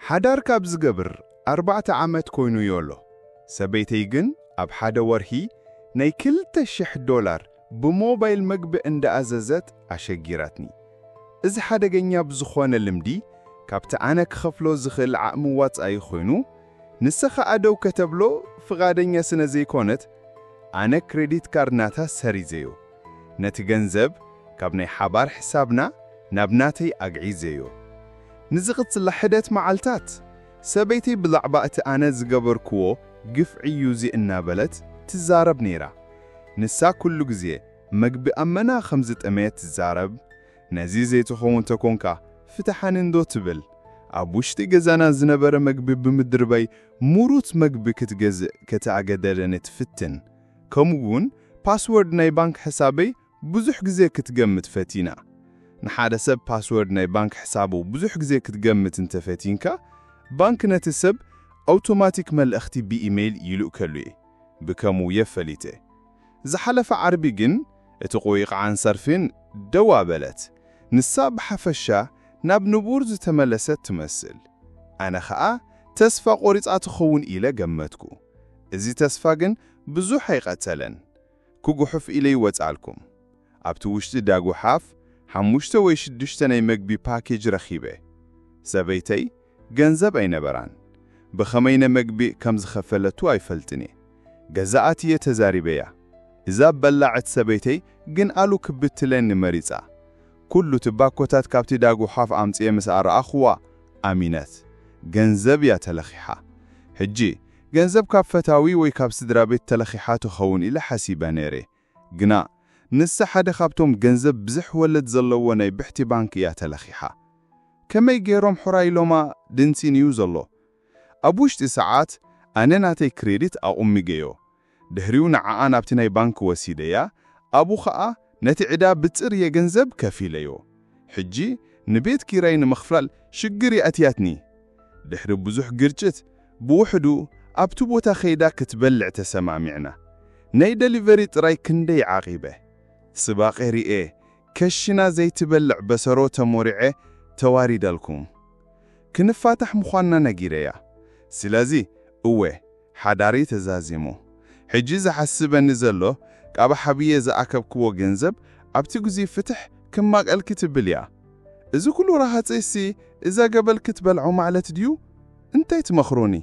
ሓዳር ካብ ዝገብር ኣርባዕተ ዓመት ኮይኑዮ ኣሎ፣ ሰበይተይ ግን ኣብ ሓደ ወርሒ ናይ ክልተ ሽሕ ዶላር ብሞባይል መግቢ እንዳኣዘዘት ኣሸጊራትኒ። እዚ ሓደገኛ ብዝኾነ ልምዲ ካብቲ ኣነ ክኸፍሎ ዝኽእል ዓቕሚ ዋጻኢ ኮይኑ፣ ንሳ ኸኣ ደው ከተብሎ ፍቓደኛ ስነዘይኮነት ኣነ ክረዲት ካርድ ናታ ሰሪዘዮ። ነቲ ገንዘብ ካብ ናይ ሓባር ሕሳብና ናብ ናተይ ኣግዒዘዮ። ንዝቕጽላ ሕደት መዓልታት፣ ሰበይተይ ብዛዕባ እቲ ኣነ ዝገበርክዎ ግፍዒ'ዩ እዚ እናበለት ትዛረብ ነይራ። ንሳ ኩሉ ግዜ መግቢ ኣመና ከም ዝጠመየት ትዛረብ፣ ነዚ ዘይትኸውን ተኮንካ ፍትሓኒ'ንዶ ትብል። ኣብ ውሽጢ ገዛና ዝነበረ መግቢ ብምድርባይ ምሩት መግቢ ክትገዝእ ከተኣገደደኒ ትፍትን። ከምኡ እውን ፓስወርድ ናይ ባንክ ሕሳበይ ብዙሕ ግዜ ክትገምት ፈቲና። ንሓደ ሰብ ፓስወርድ ናይ ባንክ ሕሳቡ ብዙሕ ግዜ ክትገምት እንተ ፈቲንካ፣ ባንክ ነቲ ሰብ ኣውቶማቲክ መልእኽቲ ብኢመይል ይልእከሉ እየ። ብከምኡ እየ ፈሊጠ። ዝሓለፈ ዓርቢ ግን እቲ ቁይቕዓን ሰርፊን ደው ኣበለት። ንሳ ብሓፈሻ ናብ ንቡር ዝተመለሰት ትመስል። ኣነ ከኣ ተስፋ ቆሪጻ ትኸውን ኢለ ገመትኩ። እዚ ተስፋ ግን ብዙሕ ኣይቐጸለን። ክጉሑፍ ኢለ ይወጽኣልኩም። ኣብቲ ውሽጢ ዳጉሓፍ ሓሙሽተ ወይ ሽዱሽተ ናይ መግቢ ፓኬጅ ረኺበ። ሰበይተይ ገንዘብ ኣይነበራን። ብኸመይ ነመግቢ ከም ዝኸፈለቱ ኣይፈልጥን'የ። ገዛኣት'የ ተዛሪበያ። እዛ በላዕት ሰበይተይ ግን ኣሉ ክብትለኒ መሪጻ። ኩሉ ትባኮታት ካብቲ ዳጉሓፍ ኣምጺኤ ምስ ኣርኣኹዋ ኣሚነት። ገንዘብ እያ ተለኺሓ። ሕጂ ገንዘብ ካብ ፈታዊ ወይ ካብ ስድራቤት ተለኺሓ ትኸውን ኢለ ሓሲበ ነይረ። ግና ንሳ ሓደ ካብቶም ገንዘብ ብዝሕ ወለድ ዘለዎ ናይ ብሕቲ ባንክ እያ ተለኺሓ። ከመይ ገይሮም ሑራይ ኢሎማ ድንሲን እዩ ዘሎ። ኣብ ውሽጢ ሰዓት ኣነ ናተይ ክሬዲት ኣቑሚገዮ። ድሕሪኡ ንዓኣ ናብቲ ናይ ባንክ ወሲደያ ኣብኡ ከኣ ነቲ ዕዳ ብጽርየ ገንዘብ ከፊለዮ ሕጂ ንቤት ኪራይ ንምኽፍላል ሽግር የእትያትኒ ድሕሪ ብዙሕ ግርጭት ብውሕዱ ኣብቲ ቦታ ከይዳ ክትበልዕ ተሰማሚዕና ናይ ደሊቨሪ ጥራይ ክንደይ ዓቂበ ጽባቄ ሪኤ ከሽና ዘይትበልዕ በሰሮ ተሞሪዐ ተዋሪደልኩም ክንፋታሕ ምኳንና ነጊረያ ስለዚ እወ ሓዳረይ ተዛዚሙ ሕጂ ዘሓስበኒ ዘሎ ካብ ሓብየ ዝኣከብክዎ ገንዘብ ኣብቲ ግዚይ ፍትሕ ክማቀልኪ ትብል እያ እዚ ኩሉ ረሃጽ ሲ እዛ ገበል ክትበልዖ ማዕለት ድዩ እንታይ ትመክሩኒ።